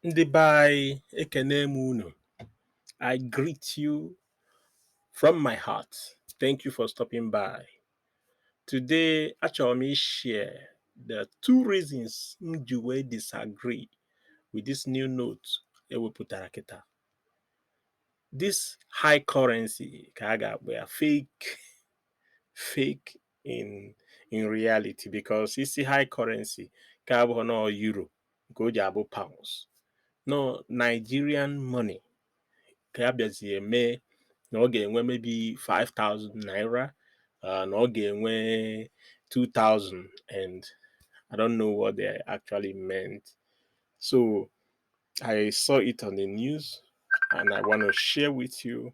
ndị be anyị ekene m unu I greet you from my heart thank you for stopping by today achọrọ m ishare the two reasons m ji wee disagree with this new note e wepụtara kịta this high currency ka a ga-akpọ ya fake fake in in reality because ị sị high currency ka abụghị na ọ euro nke o ji abụ pounds na ọ Nigerian money ka ha bịazie mee na ọ ga-enwe maybe 5000 naira uh, na ọ ga-enwe 2000 and I don't know what they actually meant so I saw it on the news and I want to share with you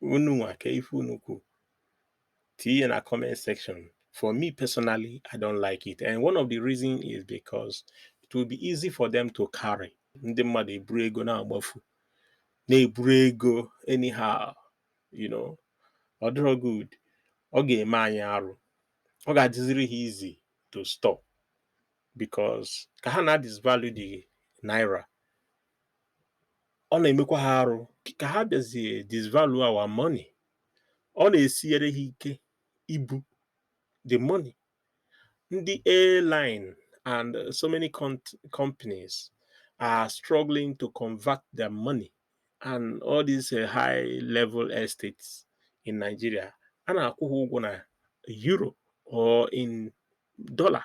unu nwa ka ife unu kwu tinye na comment section for me personally i don't like it and one of the reasons is because it will be easy for them to carry ndị mmadụ eburu ego na-agbafu na-eburu ego anyhow you know ọ dịrọ good ọ ga-eme anyị arụ ọ ga-adịziri ha easy to stop because ka ha na-adisvalue the naira ọ na-emekwa ha arụ ka ha bịazie disvalue our money ọ na-esiere ha ike ibu the money ndị airline and so many companies are struggling to convert their money and all these uh, high level estates in Nigeria a na-akwụ ha ụgwọ na euro or in dollar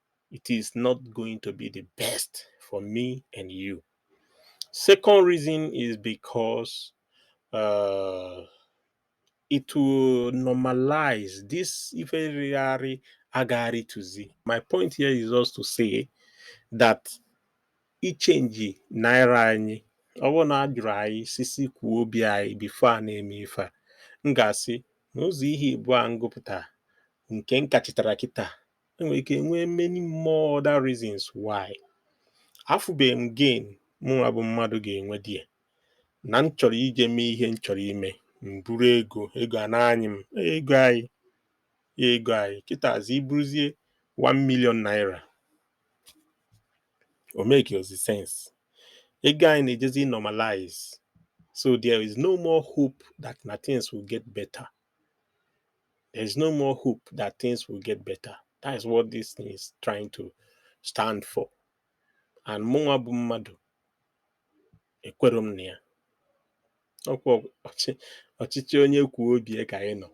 it is not going to be the best for me and you. Second reason is because uh, it will normalize this ife rịa arị agaghị arịtuzi. My point here is just to say that ichange naira anyị ọ bụrụ na a jụrụ anyị sị sị kwuo obi anyị before a na-eme ife a m ga-asị na ụzọ ihe ịbụa m gụpụta nke m ka chetara kịta e nwere ike enwe many more other reasons why afụbeghị m gain mụnwa bụ mmadụ ga-enwe there na m chọrọ ije mee ihe m chọrọ ime m buru ego ego a na-anyị m ego anyị ego anyị kịtazi iburuzie 1 million naira o makerọzi sense ego anyị na-ejezi normalize so there is no more hope that na things will get better There is no more hope that things will get better. That is what this thing is trying to stand for. And mụnwa bụ mmadụ ekwere m na ya ọkwa ọchịchị onye kwuo obi ya ka anyị nọ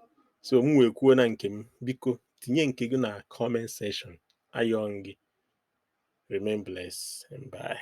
so mụnwa ekwuona nke m biko tinye nke gị na comment section ayọọ m gị remain blessed and bye